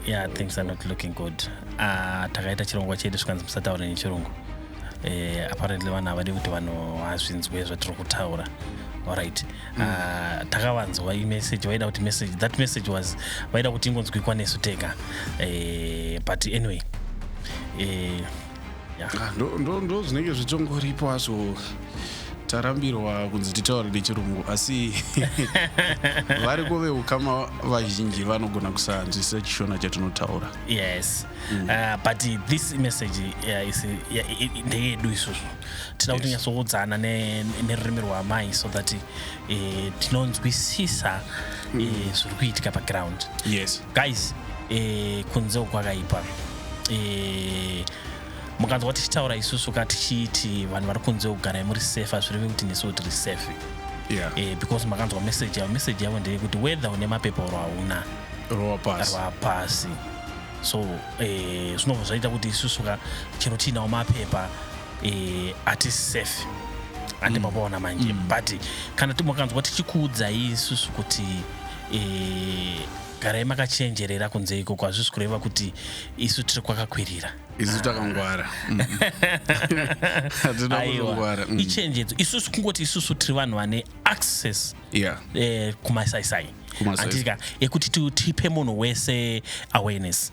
yeah things are not looking good uh, takaita chirongwa chedu zvikanzi musataure nechirungu uh, apparently vanhu havadi kuti vanhu hazvinzwe zvatiri kutaura alright mm. uh, takavanzwa imessage vaida kuti message that message was vaida kuti ingonzwikwa nesu tega uh, but anyway uh, Ah, ndo- ndo ndo zvinenge zvichongoripo hazvo tarambirwa kunzi titaure nechirungu asi variko veukama vazhinji vanogona kusanzwisisa chishona chatinotaura yes uh, but this message uh, is, uh, yeah, i- i- ndeyedu isusu tinoda kuti Yes. nyatsokudzana ne- nerurimi rwaamai so that e, tinonzwisisa e, mm. zviri kuitika paground yes. guys e, kunze ukwakaipa e, mukanzwa tichitaura isusu ka tichiiti vanhu vari kunze kugarai muri safe hazvireve kuti nesu kuti ri safe yeah. e, because makanzwa message yavo message yavo ndeyekuti whether une mapepa oro hauna rova pasi so eh, zvinobva zvaita kuti isusu ka chero tiinawo mapepa eh, hatisi safe ande mm. mabaona manje mm. but kana timakanzwa tichikuudzai isusu kuti eh, garai makachenjerera kunze ikoko hazvisi kureva kuti isu tiri kwakakwirira isu takangwara mm. hatinakuzongwara mm. ichenjedzo isusu kungoti isusu tiri vanhu vane access yeah. eh, kumasaisai anditika yekuti tipe munhu wese awareness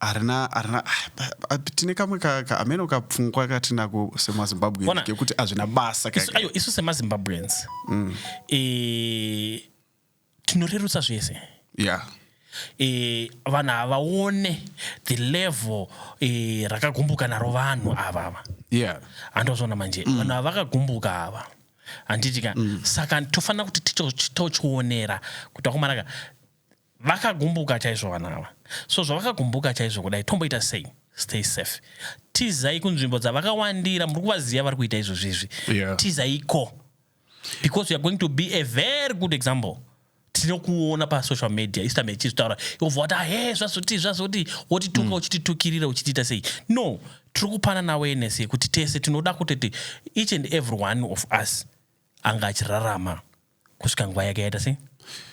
harina harina tine kamwe kameno kapfungwa katinako semazimbabwean kekuti hazvina basa aiwa isu semazimbabweans mm. e, tinorerutsa zvese yeah e, vanhu havaone the level e, rakagumbuka naro vanhu ava ava yeah. andozvona manje mm. vanhu ava vakagumbuka ava handiti ka mm. saka tofanira kuti titochionera kuti akumaraka Vakagumbuka chaizvo vana ava. So zvavakagumbuka chaizvo kudai tomboita sei? Stay safe. Tizai kunzvimbo dzavakawandira muri kuvaziva vari kuita izvozvizvi. Yeah. Tizaiko. Because you are going to be a very good example. tinokuona pasocial media istambe ichizvitaura yobva wati ahe zvazoti zvazoti wotituka mm. uchititukirira uchitiita sei no tiri kupana naweness yekuti tese tinoda kutoti each and every one of us anga achirarama kusvika nguva yake yaita sei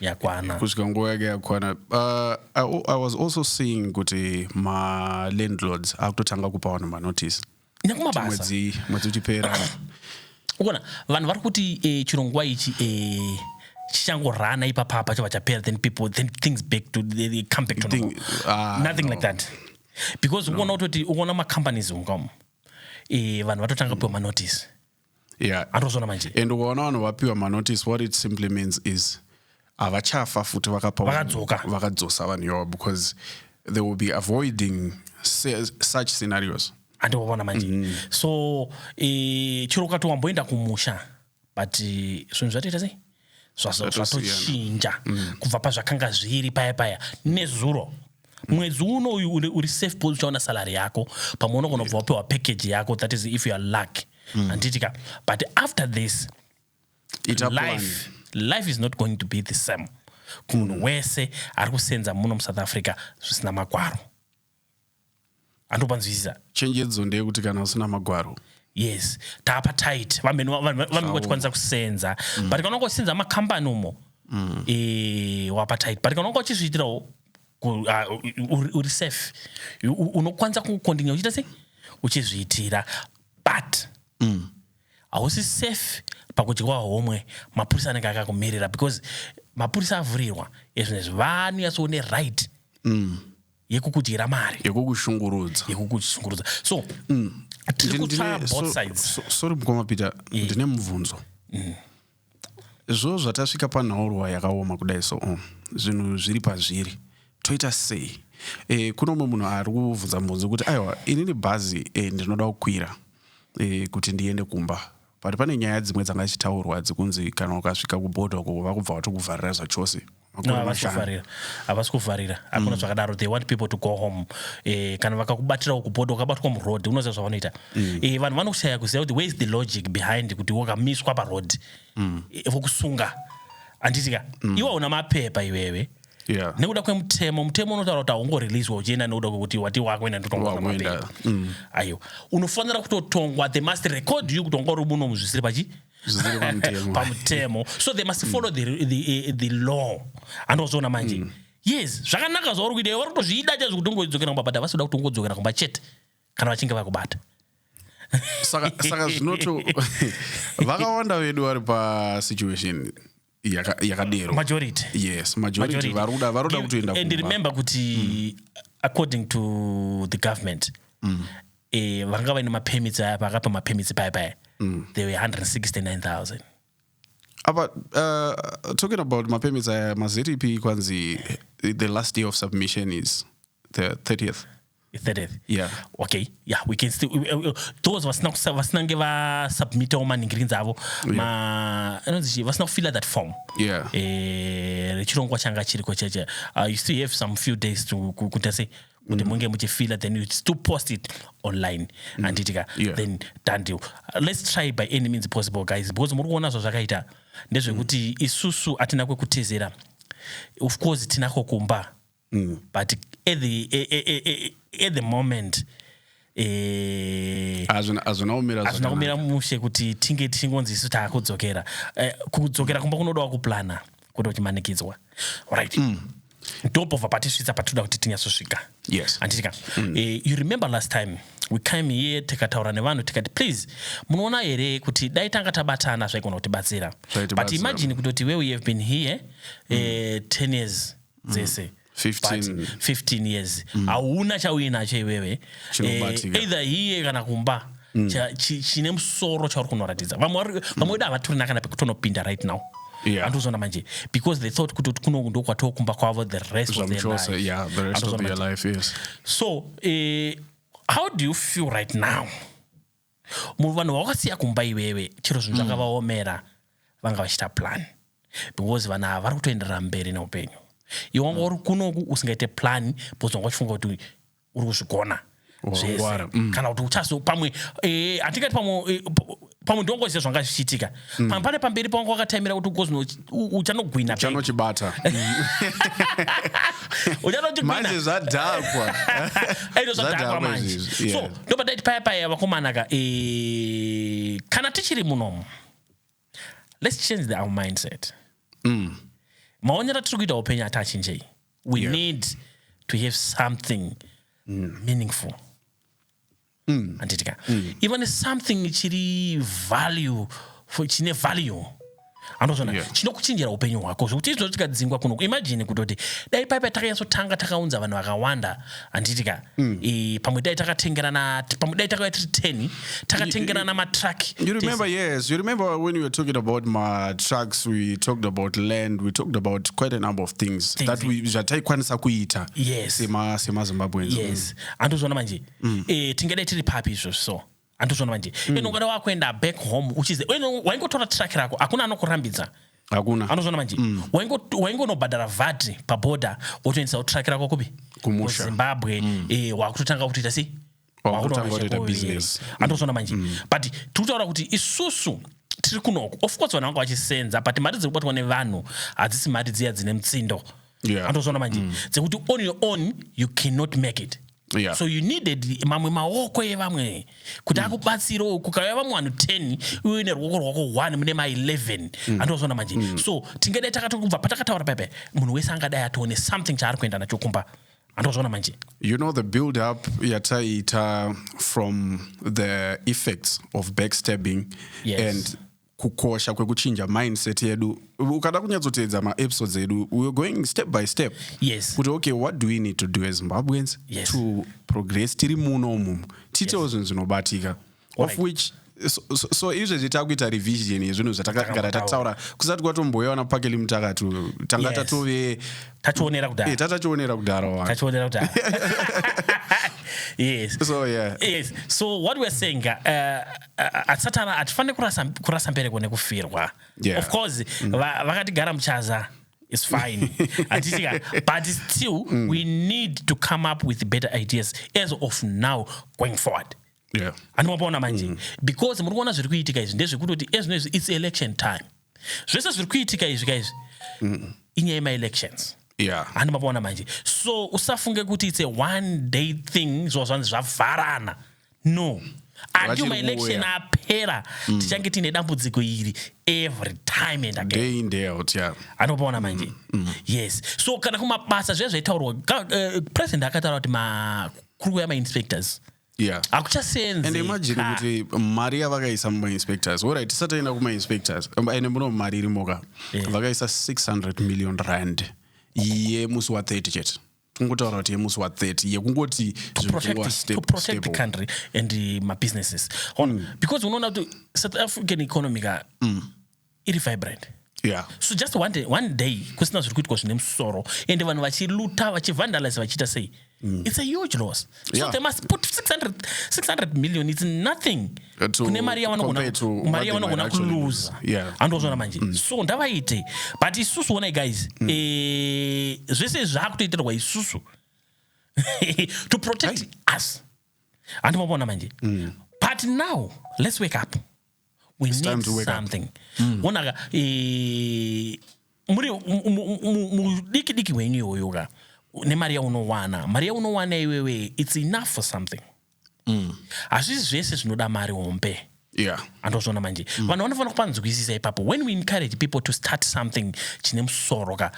yakwana kusvika nguva yake yakwana uh, I, i was also seeing kuti malandlords akutotanga kupa vanhu manotice nyakumabasmwedzi mwedzi uchipera ukona vanhu vari kuti eh, chirongwa ichi eh, chichangorana ipapapa chava chapera then people then things back to they, they come back to think, uh, nothing no. like that because ukuona no. kutoti ukuona macompanies ungam eh, vanhu vatotanga mm. piwa manotice yeah. atozona manje and ukaona vanhu vapiwa manotice what it simply means is havachafa futi vakadzosa vanhu yavo because they will be avoiding such scenarios andiwavona manje mm. so e, chero ukati wamboenda kumusha but zvinhu zvatoita sei zvatochinja mm. kubva pazvakanga zviri paya paya nezuro mwedzi uno uyu uri safe bcause uchaona salary yako pamwe unogona kubva wapiwa package yako that is if youare luck mm. handiti ka but after this life, life is not going to be the same kumunhu mm. wese ari kusenza muno musouth africa zvisina makwaro handu panzwisisa chenjedzo ndeyekuti kana usina magwaro yes taapa tight vamene vanenge vachikwanisa kusenza mm. but kana unenge uchisenza makambani umo mm. e, wapa tight but kana unenge uchizviitirawo ah, uri safe unokwanisa kukondinya uchiita sei uchizviitira but mm. hausi mm. safe pakudyiwa homwe mapurisa anenge akakumirira because mapurisa avhurirwa ezvinezvi vanonyatsoone right mm. yekukudyira mari yekukushungurudza yekukushungurudza so mm. tiri kutsvaya both sides so, so, sorry mukoma peter mm. ndine mubvunzo mm. zvo zvatasvika panhaurwa yakaoma kudai so um, zvinhu zviri pazviri toita sei e, kuno umwe munhu ari kuvhunza mubvunzo kuti aiwa inini bhazi e, ndinoda kukwira e, kuti ndiende kumba but pane nyaya dzimwe dzanga dzichitaurwa dzekunzi kana ukasvika kuboda uko vakubva vatokuvharira zvachose havasi kuvharira hakuna mm. zvakadaro they want people to go home eh, kana vakakubatirawo kuboda ukabatwa muroad unoziva zvavanoita mm. eh, vanhu vanoshaya kuziva kuti where is the logic behind kuti wakamiswa paroad mm. eh, vokusunga anditika mm. iwe una mapepa iwewe yeah. nekuda kwemutemo mutemo unotaura kuti haungoreleaswa uchienda nekuda kwekuti wati wakuenda ndotongwaamapepa mm. aiwa unofanira kutotongwa they must record you kutongwa uri muno muzvisiri pachi pamutemo so they must follow the, the, the, eh, the law andozoona manje mm. yes zvakanaka zvauri kuita vari kutozviida chaizvo kuti ungodzokera kumba but havasi kuda kuti ungodzokera kumba chete kana vachinge vakubata saka zvinoto vakawanda vedu vari pasituation Yaka- yakadero majority yes majority vari kuda vari kuda Give- kutoenda and kumba. remember kuti according to the government eh, vanga vaine mapermits aya pakapa mapermits paya paya they were 169000 apa uh, talking about mapermits aya maztp kwanzi the last day of submission is the 30th 30th yeah. okay yeah we can still uh, uh, those vasina vasina nge va submit all maningirinzi avo yeah. ma anonzi vasina kufila that form yeah eh rechirongwa changa chiriko cheche uh, you still have some few days to kuita sei kuti mm. munge muchifila then you still post it online mm. anditika yeah. then tandi let's try by any means possible guys because muri kuona zvazvakaita ndezvekuti mm. isusu atina kwekutezera of course tinako kumba mm. but at the, eh, eh, eh, at the moment hazvina kumira mushe kuti tinge tichingonzi isu taakudzokera kudzokera kumba kunodawo kuplana kuda kuchimanikidzwa right mm ndopobva patisvitsa patinoda kuti tinyatsosvika yes. anditika mm. uh, you remember last time we came here tikataura nevanhu tikati please munoona here kuti dai tanga tabatana zvaigona kutibatsira but imagine kutoti where we have been here mm. uh, eh, 10 years dzese mm. 15. 15 years mm. hauna chauinacho iwewe eh, either hiye kana kumba mm. chine musoro chauri kunoratidza vamwe mm. vedu havatorina kana pekutonopinda right now andozona manje because they thought kuti kuno ndokwatoo kumba kwavo the rest of their yeah, the rest of their life yes. so eh, how do you feel right now Munhu vanhu vawakasiya kumba iwewe chero zvinhu mm. zvakavaomera vanga vachita plan because vanhu ava vari kutoenderera mberi neupenyu iwe wanga uri kunoku usingaite plan because wanga uchifunga kuti uri kuzvigona zvese mm. kana kuti uchazopamwe eh, hatingati pamwe eh, pamwe ndongoziva zvanga zvichiitika mm. pamwe pane pamberi pawanga wakataimira kuti ukozino uchanogwina uchanochibata uchanochigwinamanje zvadhakwa ino zvadhakwa manje so ndoba ndaiti paya paya vakomana ka eh, kana tichiri munomu let's change the, our mindset mm. maonero atiri kuita upenyu ati achinjei we yeah. need to have something mm. meaningful mm. handiti ka mm. iva nesomething chiri value chine value anozvona yeah. chinokuchinjira upenyu hwako zvekuti izvo tikadzingwa kuno imajini kutoti dai paipa takanyatsotanga takaunza vanhu vakawanda handitika mm. e, pamwe dai takatengerana pamwe dai takauya tiri ten takatengerana matruck you remember Tese. yes you remember when we were talking about matrucks we talked about land we talked about quite a number of things, things that we zvataikwanisa kuita yes. semazimbabweans yes mm. andozvona manje mm. e, tingadai tiri papi izvo so andozvona manje mm. eno ungada wakuenda back home uchize waingotora track rako hakuna anokurambidza hakuna anozvona manje mm. waingonobhadhara vhati paboda wotoendisawo track rako kupi kuzimbabwe mm. e, eh, wakutotanga kutoita sei andozvona manje mm. but tiri kutaura kuti isusu tiri kunoku of course vanhu vanga vachisenza but mari dziri kubatwa nevanhu hadzisi mari dziya dzine mutsindo Yeah. andozvona manje mm. dzekuti on your own you cannot make it Yeah. so you needed mamwe maoko evamwe kuti mm. akubatsirewo kukauya vamwe vanhu 10 uye neruoko rwako 1 mune ma 11 mm. andozvona manje mm. so tingadai takatokubva patakataura pepe munhu wese angadai atoone something chaari kuenda nacho kumba andozvona manje you know the build up yataiita from the effects of backstabbing yes. and kukosha kwekuchinja mindset yedu ukada kunyatsoteedza maepisodes edu we're going step by step yes kuti okay what do we need to do as zimbabweans yes. to progress tiri muno umumu tiitewo yes. zvinhu zvinobatika of right. which so, so, so izvezvi takuita revision yezvinhu zvatakagara tataura kusati kwatomboyewana pakeli mutakati tanga tatove tationera kudhara eh, tatachionera kudhara wa tachionera kudhara yes so yeah yes so what we're saying uh, hatisati ava hatifanire kurasa kurasa mbereko nekufirwa yeah. of course mm. vakatigara muchaza is fine hatitika but still mm. we need to come up with better ideas as of now going forward yeah. andimapaona manje mm. because muri kuona zviri kuitika izvi ndezvekutoti ezvino izvi its election time zvese zviri kuitika izvi ka izvi inyaya yemaelections yeah. handi mapaona manje so usafunge kuti it's a one day thing zvova zvanzi zvavharana no until maelection apera mm. tichange tiine dambudziko iri every time and again yeah. anopaona manje mm. mm. yes so kana kumabasa zviya zvaitaurwa uh, president akataura kuti kuri kuuya mainspectors yeah and hakuchaseenzi imagine ka. kuti mari yavakaisa mumainspectors orit tisati aenda kumainspectors Um, ende muno mari irimoka Yeah. vakaisa 600 million rand yemusi wa30 chete kungotaura kuti yemusi wa30 yekungoti protect, zvipuwa the- to step protect the step country and uh, mabusinesses Hon, because unoona kuti south african economy ka iri vibrant yeah. so just one day, one day kusina zviri kuitwa zvine musoro ende vanhu vachiluta vachivandalize vachiita sei mm. it's a huge loss so yeah. they must put 600, 600 million it's nothing uh, kune mari yavanogona yavanogona kuluza yeah. andozvona manje mm. so ndavaite but isusu onai guys mm. e, zvese zvaakutoitirwa isusu to protect Hai. us handi mavona manje mm. but now let's wake up we It's need something mm. onaka e, muri mudiki diki wenyu iwoyo ka nemari yaunowana mari yaunowana iwewe it's enough for something mm. hazvisi mm. zvese zvinoda mari hombe yeah. andozviona manje mm. vanhu vanofanira kupanzwisisa ipapo when we encourage people to start something chine musoro ka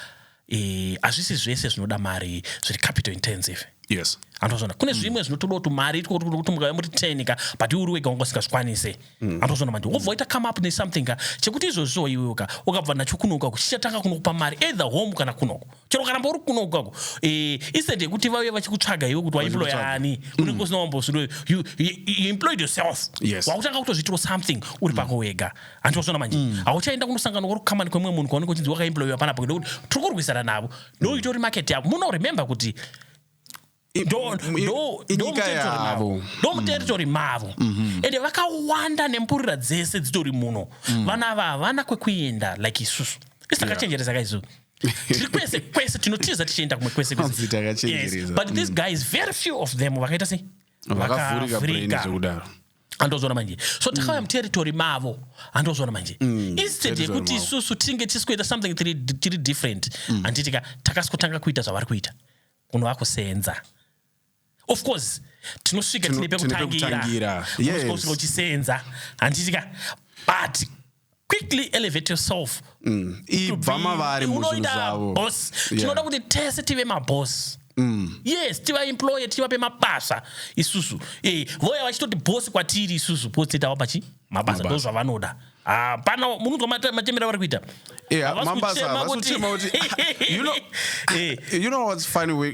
eh, hazvisi e, zvese zvinoda mari zviri capital intensive yes andozviona kune mm. zvimwe mm. zvinotoda kuti mari kuti mukave muri ten ka but iwe uri wega wanga usingazvikwanise mm. andozviona manje wovoita come up nesomething ka chekuti izvozviwo iwewo ka ukabva nacho kunoka kuchichatanga kunokupa mari either home kana kunoko chero ukaramba uri kuno kwako eh, instead yekuti vauye vachikutsvaga iwe kuti waemploya ani unenge mm. usina wambosundwe you, you, you employed yourself yes. wakutanga kutozviitiro something uri pako mm. wega hanti wasona manje mm. hauchaenda kunosangana kwari kukamani kwemumwe munhu kwaunenge uchinzi wakaemployiwa panapa kuti tiri kurwisana navo ndoitori market yako muno remember kuti ndomuteritori mm. mavo mm. mm-hmm. ende vakawanda nemburira dzese dzitori muno mm. vana ava havana kwekuenda like isusu isi takachenjeresa ka isusu tiri kwese kwese tinotiza tichienda kumwe kwese but these mm. guys very few of them vakaita sei vakavhurika andozona manje so takauya muterritori mavo andozona manje mm, instead yekuti isusu tinge tisikuita something tiri different mm. anditika takasitanga kuita zvavari kuita unova kuseenza of course tinosvika tine pekutangira usvika uchiseenza handitika but quickly elevate yourself mm. ibva mavari muzvinhu zvavo boss tinoda kuti tese tive maboss Mm. yes tivaemploye tivape mabasa isusu e, eh, voya vachitoti bosi kwatiri isusu bosi titawapa chi mabasa ndozvavanoda hapana ah, munonzwa machemera vari kuita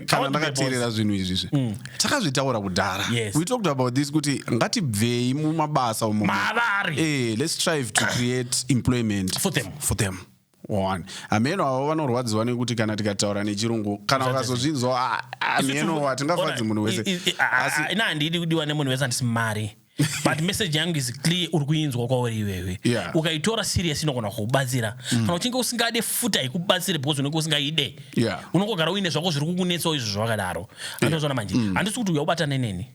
kana ndakateerera zvinhu izvizvi mm. takazvitaura kudhara we talked about this kuti ngatibvei mumabasa umo mavari eh, let's strive to create employment for them, for them. One. Hameno avo vanorwadziwa nekuti kana tikataura nechirungu kana ukazozvinzwa ah, hameno hatingafadzi munhu wese ina handidi kudiwa nemunhu wese handisi mari but message yangu is clear uri kuinzwa kwauri iwewe yeah. ukaitora serious inogona kukubatsira mm. kana uchinge usingade futa ikubatsire because unenge usingaide yeah. unongogara uine zvako zviri kukunetsawo izvo zvavakadaro andozvona yeah. manje mm. handisi mm. kuti uya ubatane neni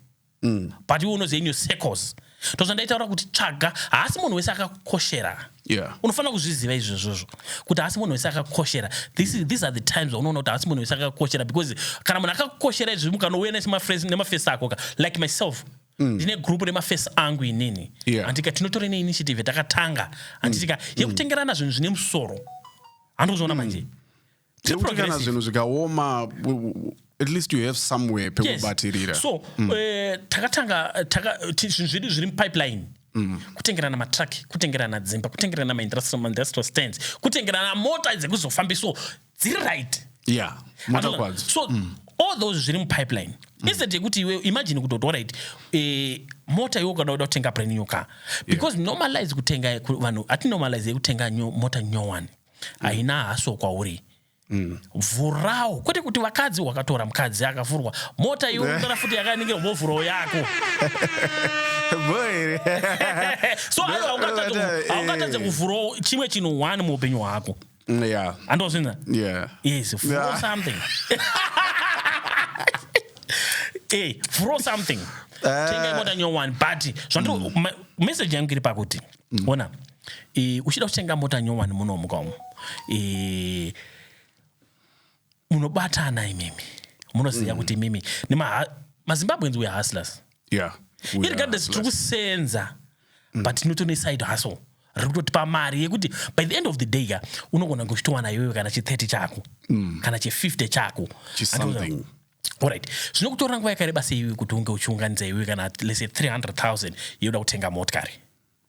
mm. but iwe unoziva in your circles ndozvandaitaura kuti tsvaga haasi munhu wese akakoshera yeah. unofanira kuzviziva izvozvozvo kuti haasi munhu wese akakoshera these are the times vaunoona kuti haasi munhu wese akakoshera because kana munhu akakoshera izvi mukanouya nemafesi ako ka like myself mm. ndine mm. group remafesi angu inini yeah. andika tinotore neinitiative yatakatanga anditika mm. yekutengerana zvinhu zvine musoro handikuzoona mm. manje tekuti kana zvinhu zvikaoma at least you have somewhere pekubatirira yes. so mm. uh, takatanga zvinhu zvedu zviri mupipeline Mm. kutengerana matruck kutengerana dzimba kutengerana maindustrial stands kutengerana mota dzekuzofambiso dziri right yeah, so mm. all those zviri mupipeline mm. instead yekuti iwe imagine kuti otorit eh, mota iwe ukada kuda kutenga brand new car because yeah. normalize kutenga vanhu atinormalize yekutenga mota nyowani haina haso kwauri Mm. vhurawo kwete kuti vakadzi wakatora mukadzi akavhurwa mota iyorondora futi yakaningirwa vovhurawo yako boere so ayo haungatadze kuvhurawo chimwe chinhu one muupenyu hwako mm, yeah. andozvinza yeah. yes vhuro yeah. something hey, eh, vhuro something uh, tenga imota nyowani but zvandiri mm. message yangu iri pakuti mm. ona mm. Eh, uchida kutenga mota nyowani muno muka umu eh, munobatana imimi munoziva mm. kuti imimi mazimbabweans were hustlers yeah, irregardless tiri kusenza mm. but tinotone side hustle riri kutotipa mari yekuti by the end of the day ka unogona kuchitowana iwewe kana chi30 chako mm. kana chi50 chako orit zvinokutora nguva yakareba seiwe kuti unge uchiunganidza iwewe kana lese 300 000 yoda kutenga motkari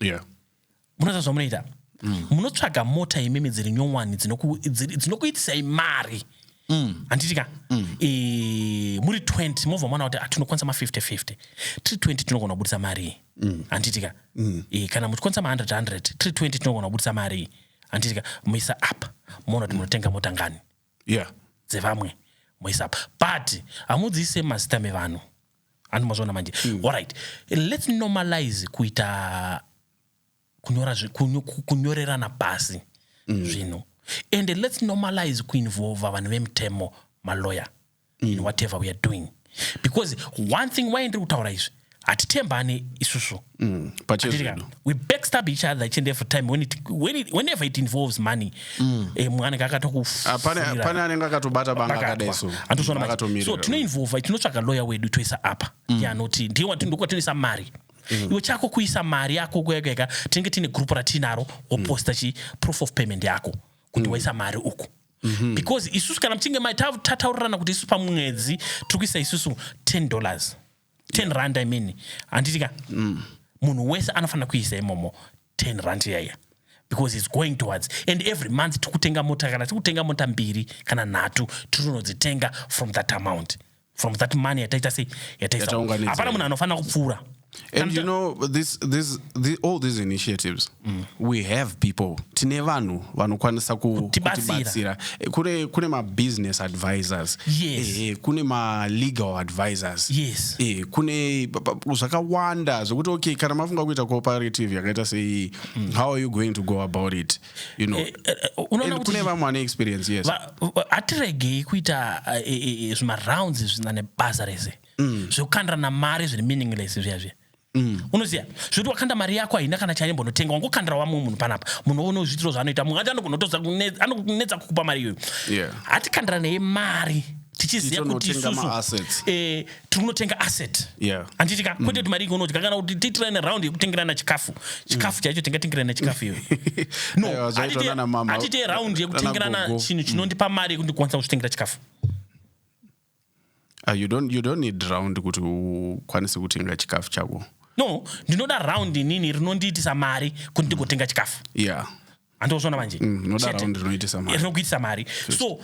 yeah. munoita zvamunoita mm. munotsvaga mota imimi dziri nyowani dzinokuitisai mari mm. handitika mm. e, muri 20 mobva mwana kuti tinokwanisa ma5050 tiri 20 tinogona kubudisa marii mm. handitika mm. e, kana muchikwanisa ma100 tiri 20 tinogona kubudisa marii handitika muisa up moona kuti munotenga mota ngani yeah. dzevamwe moisa apa but hamudziise mazita mevanhu handi mazviona manje mm. allright lets normalize kuita kunyora kunyo, kunyorerana pasi mm. zvinhu and lets normalize kuinvolva vanhu vemutemo maloyer mm. in whatever we are doing because one thing why ndiri kutaura izvi hatitembane isusu mm, we backstab each other each and every time when it, when it, whenever it involves money mm. eh, mumwe anenge akatokupane ah, anenge akatobata banga akadaiso so tinoinvolva tinotsvaga lawyer wedu toisa apa mm. yanoti ndiye ndokwatinoisa mari mm. iwe chako kuisa mari yako kuekaeka tinenge tiine group ratinaro woposta mm. chi proof of payment yako kuti mm. waisa mari uku mhm. because isusu kana muchinge tataurirana kuti isusu pamwedzi tiri kuisa isusu 10 dollars 10 rand i mean handitika mm. munhu wese anofanira kuisa imomo 10 rand yaiya because its going towards and every month tiri kutenga mota kana tiri kutenga mota mbiri kana nhatu tiri kunodzitenga from that amount from that money yataita sei yataisaunganidza hapana munhu anofanira kupfuura and you know this, this, this, all these initiatives mm. we have people tine vanhu vanokwanisa kutibatsira eh, kune, kune mabusiness advisors yes. eh, eh kune malegal advisors yes. eh, kune zvakawanda zvekuti okay kana mafunga kuita cooperative yakaita sei mm. how are you going to go about it you know eh, eh, eh, unoona kuti kune vamwe vane experience yes hatiregei kuita zvimarounds zvina nebasa rese mm. zvekukandirana mari zviri meaningless zviya zviya Mm. unoziva zvekuti wakanda mari yako haina kana chaimbonotenga wangokandira wamwe munhu panapa munhu oona zviitiro zvaanoita munhu acho anokunetsa kukupa mari iyoyo yeah. hatikandiranei mari tichiziva kuti isusu eh, tiri kunotenga asset yeah. anditi ka mm. kwete kuti mari ingonodya kana kuti tiitirane round yekutengerana chikafu chikafu mm. chaicho tingatengerana chikafu iyoyo noatite round yekutengerana chinhu chinondipa mm. mari yekuti kwanisa kuzvitengera chikafu Uh, you don't, you don't need round kuti ukwanise kutenga chikafu chako no ndinoda round inini rinondiitisa mari kuti ndigotenga chikafu yeah andozvona manje mm, rinokuitisa mari so uh,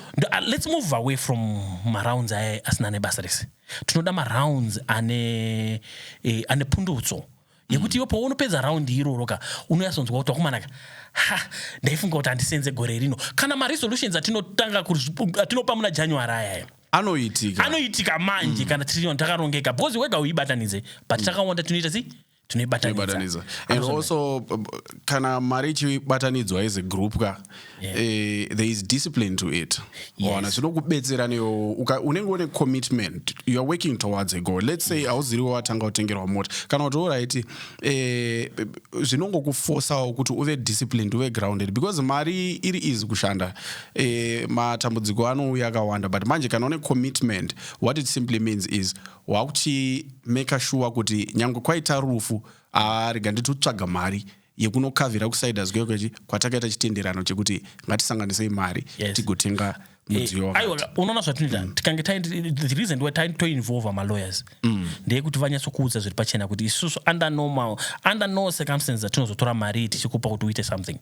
let's move away from marounds aye asina nebasa rese tinoda marounds ane eh, ane pundutso yekuti iwe paunopedza raundi iroro ka unoyasonzwa kuti wakumanaka ha ndaifunga kuti handisenze gore rino kana maresolutions atinotanga atinopa muna january ayaya anoitika anoitika manje mm. kana tiri takarongeka because wega uibatanidze but mm. takawanda tinoita sei tinoibatanidza and also uh, kana mari ichibatanidzwa as a group ka yeah. uh, there is discipline to it waona yes. zvinokubetsera newo unenge une commitment youare working towards a goal let's say hauziri yes. watanga kutengerwa mota kana kuti orit uh, eh, zvinongokufosawo kuti uve disciplined uve grounded because mari iri easy kushanda uh, matambudziko anouya akawanda but manje kana une commitment what it simply means is Wakuchi maker sure kuti nyangwe kwaita rufu ah rega nditotsvaga mari yekunokavhira kusiders kweyo kwechi kwatakaita chitenderano chekuti ngatisanganisei mari Yes. tigotenga mudziyo Eh, aiwa, wakati. unoona zvatinoita tikange taende- the reason why taende toinvolva malawyers ndeyekuti vanyatsokuudza zviri pachena kuti isusu under normal under no circumstances dzatinozotora mari iyi tichikupa kuti uite something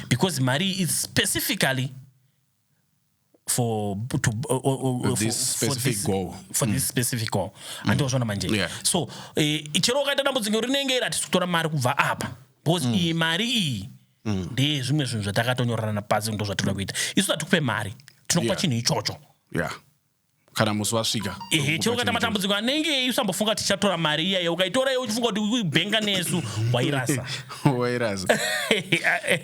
because mari iyi is specifically for to uh, uh, uh, this for, specific for this, goal for mm. this specific goal mm. andozvona manje yeah. so eh, chero ukaita dambudziko rinenge iri hatisi kutora mari kubva apa because mm. iyi mari iyi mm. ndeye zvimwe zvinhu zvatakatonyorana napasi ndo zvatinoda kuita isu hatikupe mari tinokupa yeah. chinhu ichocho yeah. kana musi wasvika ehe chero ukaita matambudziko anenge eyi usambofunga kuti tichatora mari iya iya ukaitora iyo uchifunga kuti uibhenga nesu wairasa wairasa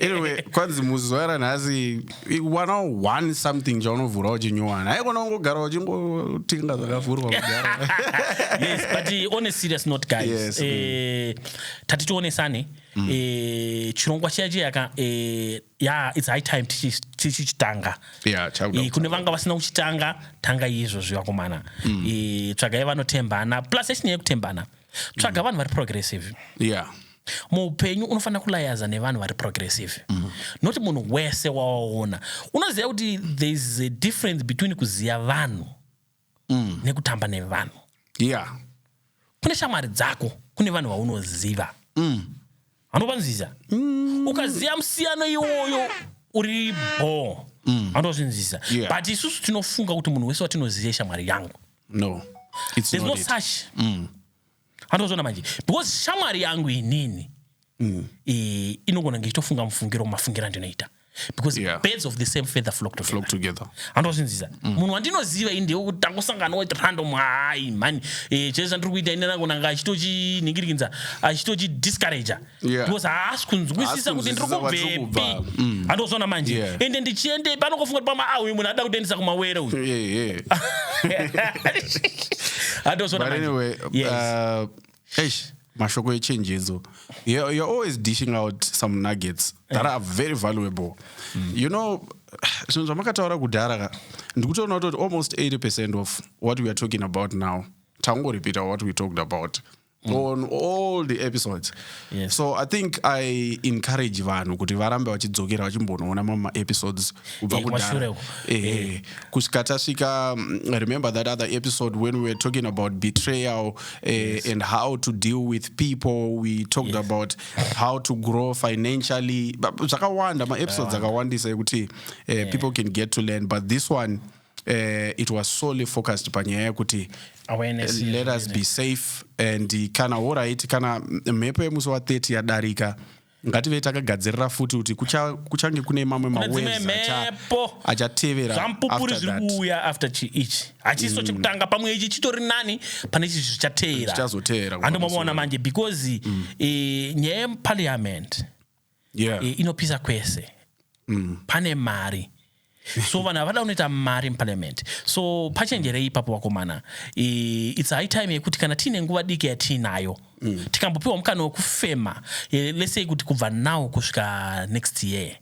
anyway kwanzi musi zuva ranhasi wana one something chaunovhura uchinyowana haikona ungogara uchingotinga zvakavhurwa kugara yes but eh, on a serious note guys yes, eh, mm. tati tionesane mm. eh, chirongwa chiya chiya ka eh, ya its high time tichichitanga kune vanga vasina kuchitanga tanga izvozvi vakomana mm. tsvagai vanotembana plus yechinyaya yekutembana tsvaga mm. vanhu vari progressive yeah muupenyu unofanira kulayaza nevanhu vari progressive mm. not munhu wese wawaona unoziva kuti thereis a difference between kuziva vanhu mm. nekutamba nevanhu yeah. kune shamwari dzako kune vanhu vaunoziva mm. anopanzvisa mm. ukaziva musiyano iwoyo uri bho mm. anozvinzisa yeah. but isusu tinofunga kuti munhu wese watinoziva ishamwari yangu no It's there's no it. such mm. handozviona manje because shamwari yangu inini mm. e, inogona kunge ichitofunga mufungiro mafungiro andinoita because yeah. birds of the same feather flock together, flock together. handozvinzisa mm. munhu mm. wandinoziva ini ndewe kuti tangosangana wati random hai mhani e, chese chandiri kuita ini nangonanga achitochiningirinza achitochidiscourager Yeah. because haasi kunzwisisa Haasi kuti ndiri kunzwisisa kwatiri kubvepi kubva. Mm. andozoona manje Yeah. ende ndichiendepi panokofunga kuti pama ah uyu munhu ada kutoendesa kumawere uyu Yeah, yeah. andozoona But manje anyway, Yes. uh, eish, mashoko echenjedzo you're, you're always dishing out some nuggets that are very valuable you know zvinhu zvamakataura kudhara ka ndikutoona kuti almost 80 percent of what we are talking about now tangoripita what we talked about mm. on all the episodes yes. so i think i encourage vanhu kuti varambe vachidzokera vachimbonoona mamwe maepisodes kubva eh, kudhara eh, eh, eh. kusvika tasvika mm, remember that other episode when we were talking about betrayal eh, yes. and how to deal with people we talked yes. about how to grow financially zvakawanda maepisodes akawandisa ekuti eh, yeah. people can get to learn but this one uh, it was solely focused panyaya yekuti eh, let us be safe and kana horit kana mhepo yemusi wa 30 yadarika ngative takagadzirira futi kuti kuchange kune mamwe maweepo achatevera zvampupuri zviri kuuya after chiichi hachiso mm. chekutanga pamwe ichi chitori nani pane chi zvichateera handomaona manje because mm. eh, nyaya yeparliament yeah. Eh, inopisa kwese mm. pane mari so vanhu havada kunoita mari muparliament so pachenjerei ipapo vakomana its high time yekuti kana tiine nguva diki yatiinayo mm. tikambopiwa mukana wekufema eh, lesei kuti kubva now kusvika next year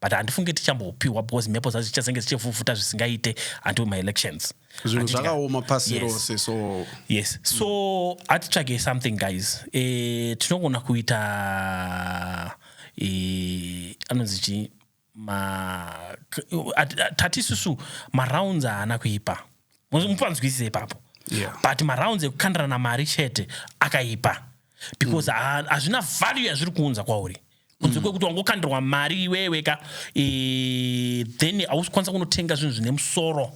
but handifunge tichambopiwa because mhepo dzacho dzichazenge dzichivhuvhuta zvisingaite until maelections zvinhu zvakaoma pasi rose so yes so hatitsvage something guys eh, tinogona kuita eh, anonzi chii tati isusu marounds haana kuipa mupanzwisise ipapo yeah. but marounds ekukandirana mari chete akaipa because mm. hazvina mm. value yazviri kuunza kwauri kunze mm. kwekuti wangokandirwa mari iwewe ka e, then hausi kwanisa kunotenga zvinhu zvine musoro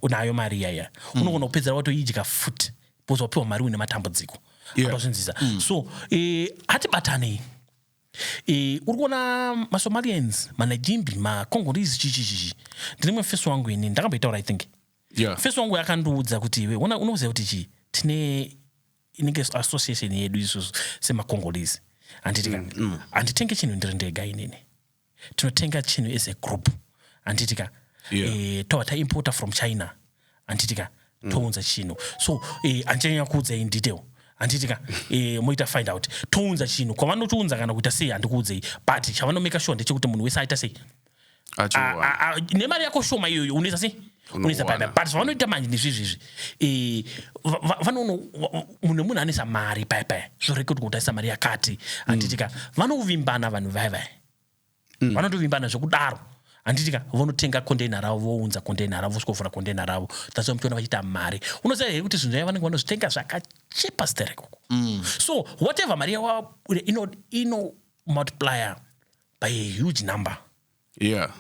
unayo mari iyaya mm. unogona kupedzera watoidya futi because wapiwa mari une matambudziko yeah. atozvinzisa mm. so e, hatibatanei e, uri kuona masomalians manajimbi macongolese chichichichi ndine mwe feso wangu ini ndakamboitaura i think yeah. feso wangu akandiudza kuti iwe unoziva kuti chii tine inenge association yedu isusu semacongolese handiti ka mm. handitenge mm. chinhu ndiri ndega inini tinotenga chinhu as a group handiti ka yeah. e, eh, toa taimporta from china handiti ka mm. tounza chinhu so e, eh, andichanyanya kuudzai in detail handiti ka e, moita find out tounza chinhu kwavanotiunza kana kuita sei handikuudzei but chavanomaker sure ndechekuti munhu wese aita sei nemari yako shoma iyoyo unoita sei unoisa pada but zvavanoita manje ndizvizvizvi eh, vanono munhu nemunhu anoisa mari paya paya zvorekotwa kuti aisa mari yakati handitika mm. vanovimbana vanhu vaya vaya mm. vanotovimbana zvekudaro handitika vonotenga containa ravo vounza containa ravo vosvika vovhura containa ravo that's why muchiona vachiita mari unoziva here kuti zvinhu zvaya vanenge vanozvitenga zvakachipa sterek uku mm. so whatever mari yavo ino multiplier by a huge number yeah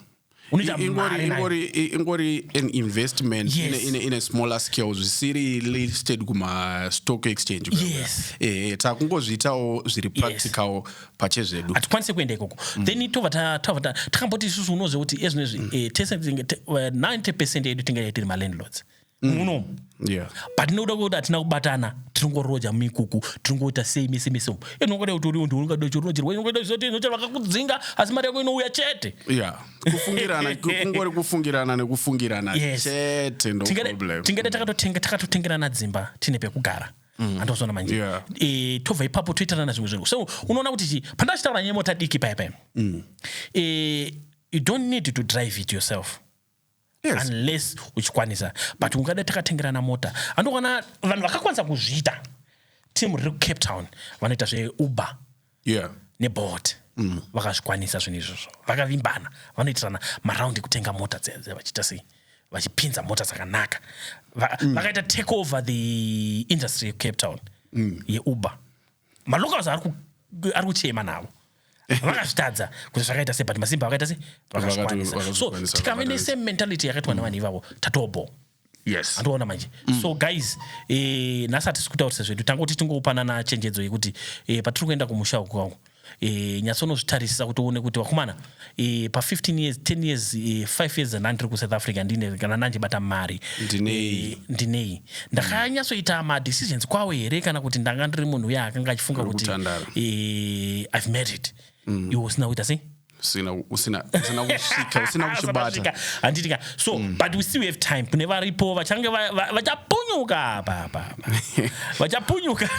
unoita I- ingori mari nayo. ingori i- ingori an investment Yes. in, a, in, a, in a smaller scale zvisiri listed kuma stock exchange kuya kuya. Yes. eh, eh, takungozviitawo zviri practical pache zvedu hatikwanise kuenda ikoko Mm. then tova ta- tava ta- takamboti isusu unoziva kuti ezvinezvi eh, tese tinge- te- eh, 90 percent yedu tingadai tiri malandlords mm. uno yeah. but nekuda kwekuti hatina kubatana tinongoroja muikuku tinongoita sei mese mese umu inongoda kuti uriundi unongada chirinojerwa inongoita zvizoti inocha vakakudzinga asi mari yako inouya chete yeah. kufungirana kungori kufungirana nekufungirana yes. chete no tingada takatotengerana dzimba tine pekugara Mm. andozoona manje yeah. e, tobva ipapo toitanana zvimwe zvinhu so unoona kuti chi pandachitaura nyemota diki paya paya mm. e, you don't need to drive it yourself yes. unless uchikwanisa but ungada takatengerana mota andokwana vanhu vakakwanisa kuzviita team riri kucape town vanoita zveuber yeah. nebot mm. vakazvikwanisa zvinhu izvozvo vakavimbana vanoitirana maround ekutenga mota dzedze vachiita sei vachipinza mota dzakanaka mm. vakaita take over the industry yecape town mm. yeuber malocals ari kuchema navo vakazvitadza kuti zvakaita se but masimba vakaita se vakazvikwanisa so tikave nesame mentality yakaitwa nevanhu ivavo tatobo yes andiona manje mm. so guys eh, nhasi hatisi kutaurisa zvedu tangoti tingopanana chenjedzo yekuti eh, patiri kuenda kumusha uku kwangu eh, nyatsonozvitarisisa kuti uone kuti vakomana e, pa 15 years 10 years e, eh, 5 years and andiri kusouth africa ndine kana nanje bata mari ndinei e, ndinei ndakanyatsoita mm. madecisions kwawo here kana kuti ndanga ndiri munhu uye akanga achifunga kuti e, i've married mm. iwo usina kuita sei usina usina usina kusvika usina kuchibata handitika so mm. but we still have time kune varipo vachange vachapunyuka apa apa vachapunyuka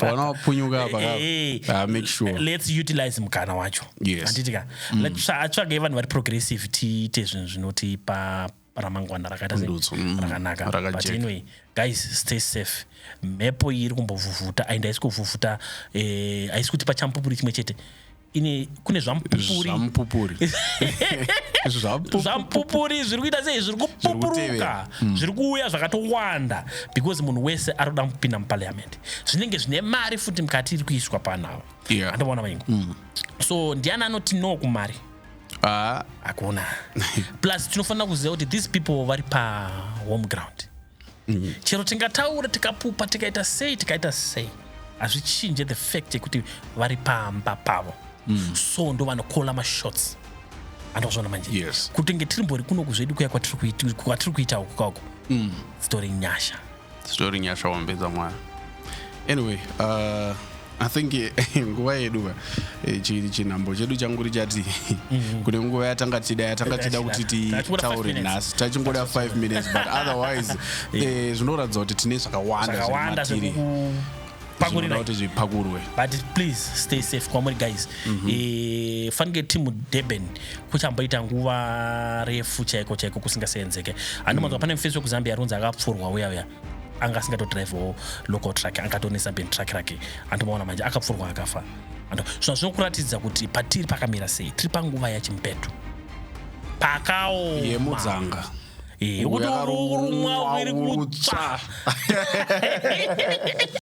vanapunyuka apa eh, ah, make sure let's utilize mukana wacho yes anditika mm. atsvage vanhu vari progressive tiite zvinhu zvinotipa ramangwana rakaita mm. rakanaka but anyway guys stay safe mhepo iyi iri kumbovhuvhuta and haisi kuvhuvhuta eh, haisi kuti pachampupuri chimwe chete ine kune zvamupupuri zvamupupuri zvamupupuri zviri kuita sei zviri kupupuruka hmm. zviri kuuya zvakatowanda because munhu wese ari kuda kupinda muparliament zvinenge zvine mari futi mukati iri kuiswa panavo andoona maingu hmm. so ndiani anoti no kumari ah. hakuna plus tinofanira kuziva kuti these people vari pahome ground chero tingataura tikapupa tikaita sei tikaita sei hazvichinje the fact yekuti vari pamba pavo mm. so ndo vanokola mashots andozvona manje yes. kuti nge tiri mbori kunoku zvedu kuya kwatiri kuita uku kauku mm. zitori nyasha zitori nyasha wambedza mwana anyway uh... i think eh, nguva yedu ka eh, chi- chinhambo chedu changuri chati Mhm. kune nguva yatanga tichida yatanga tichida kuti Tachingoda five titaure minutes. nhasi tachingoda 5 minutes but otherwise eh, zvinoratidza kuti tine zvakawanda zvakawanda zviri matiri. Zvinoda zvekupakurira kuti zvipakurwe but please stay safe kwamuri guys Mhm. Eh, fanike timu durban kuchamboita nguva refu chaiko chaiko kusingaseenzeke Mhm. handimanzwa pane mufesi wekuzambia aronzi akapfurwa uya uya anga asingatodrivewo local truck angatonisa ben truck rake andomaona manje akapfurwa akafa sva zvinokuratidza kuti patiri pakamira sei tiri panguva yachimupeto pakaomudzanga yekuti urumwa uri kutsva